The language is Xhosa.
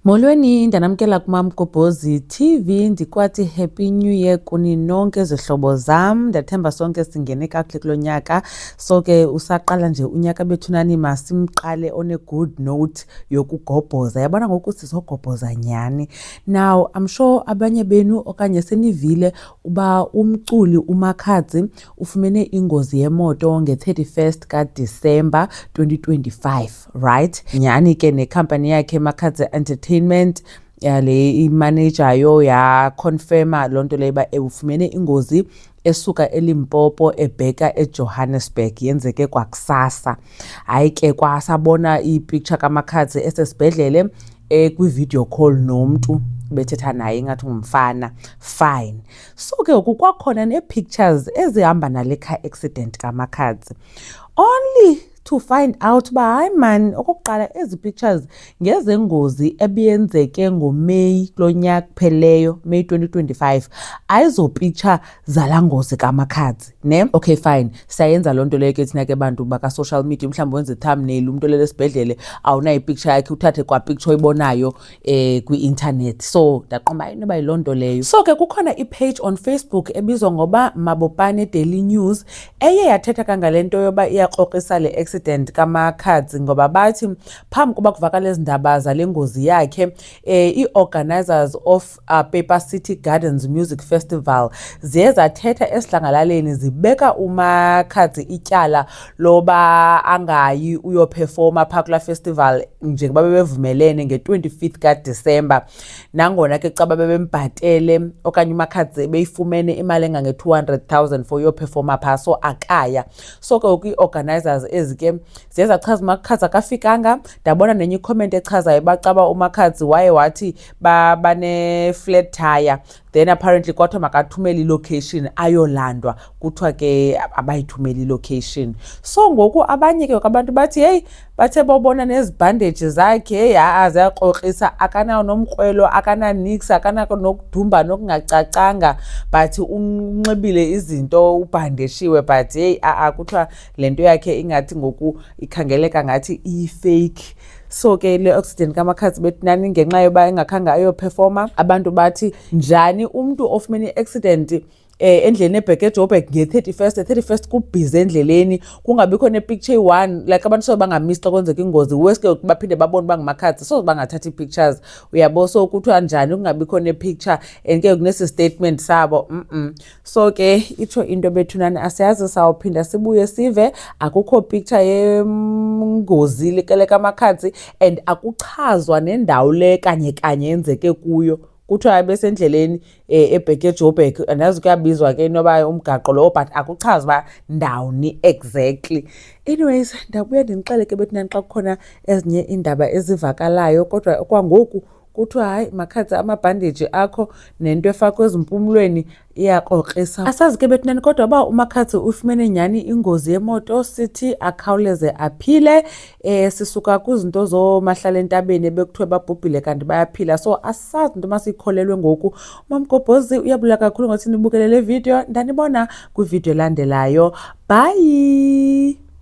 Molweni ndanamkela kuMamgobhozi TV ndikwathi happy new year kuni nonke zihlobo zam ndathemba sonke singene kakuhle kulo nyaka so ke usaqala nje unyaka bethu nani masimqale on a good note yokugobhoza yabona ngoku sizogobhoza nyhani now i'm sure abanye benu okanye senivile uba umculi umakhadzi ufumene ingozi yemoto nge-31st kadisemba 2025 right nyhani ke nekhampani yakhe makhadze entertainment yale imaneja yo yaconfirma loo nto leyo uba ewufumene ingozi esuka elimpopo ebheka ejohannesburg yenzeke kwakusasa hayi ke kwasabona ipicture kamakhadze esesibhedlele ekwi-video call nomntu bethetha naye ingathi ngumfana fine so ke ngoku kwakhona nee-pictures ezihamba nale car accident kamakhadze only to find out uba hayi mani okokuqala ezi pictures ngezengozi ebiyenzeke ngomeyi kulo nyaka kupheleyo meyi 2025 ayizopitsha zala ngozi kamakhadzi ne okay fine siyayenza loo nto leyo ke thina ke bantu bakasocial media umhlawumbi wenze ithamneli umntu olele esibhedlele awunayo ipicture yakhe uthathe kwapicture oyibonayo eh kwi-internet so ndaqomba inoba yiloo nto leyo so ke kukhona ipage on facebook ebizwa ngoba mabopane daily news eye yathetha kangale nto yoba iyakrokrisa le accident kamakhadzi ngoba bathi phambi kuba kuvakala ezi ndaba zale ngozi yakhe eh ii-organizers of uh, paper city gardens music festival ziye zathetha esidlangalaleni zibeka umakhadzi ityala loba angayi uyophefoma phaa kulaa festival njengoba bebevumelene nge-25 kadisemba nangona ke caba bebembhatele okanye umakhadze beyifumene imali engange-200 000 for uyophefoma phaa so akaya so ke ngoku ii-organizers ezi ke ziye zachaza umakhadze akafikanga ndabona nenye icomment echazayo bacaba umakhadzi waye wathi baneflat ba tire then apparently kwathiwa makathumele ilocation ayolandwa kuthiwa ke abayithumele ilocation so ngoku abanye ke abantu bathi heyi bathe bobona nezibhandeji zakhe heyi ha-a ziyakrokrisa akanawo nomkrwelo akananix akanako nokudumba nokungacacanga but unxibile izinto ubhandeshiwe but heyi a-a kuthiwa le nto yakhe ingathi ngoku ikhangeleka ngathi iyifeyikhi so ke le oxygen kamakhazi betinani ngenxa yoba engakhange ayophefoma abantu bathi njani umntu ofumene i-accident eh endleleni ebheke ejoburg nge-31st e-31st kubhizi endleleni kungabikho nepicture eyi-one like abantu soze bangamisi xa kwenzeka ingozi worse ke baphinde babone uba ngumakhathi soze bangathatha ii-pictures uyabo so kuthiwa njani kungabikho nepicture and ke kunesi statement sabo mm, -mm. so ke itsho into bethunani asiyazi sawuphinda sibuye sive akukho picture yengozi likele kamakhatsi and akuchazwa nendawo le kanye kanye yenzeke kuyo kuthiwa besendleleni eh, ebheke ejoburg andazi kuyabizwa ke noba umgaqo lowo but akuchazi uba ndawuni exactly anyways ndabuya ndinixeleke bethunani xa kukhona ezinye iindaba ezivakalayo kodwa kwangoku kuthiwa hayi makhathe amabhandeji akho nento efakwa ezimpumlweni iyakrokrisa asazi ke bethunani kodwa uba umakhathe uyifumene nyhani ingozi yemoto sithi akhawuleze aphile um sisuka kwizinto zoomahlala entabeni ebekuthiwe babhubhile kanti bayaphila so asazi into masiyikholelwe ngoku umamgobhozi uyabula kakhulu ngothi nibukele le vidiyo ndanibona kwividiyo elandelayo bhayi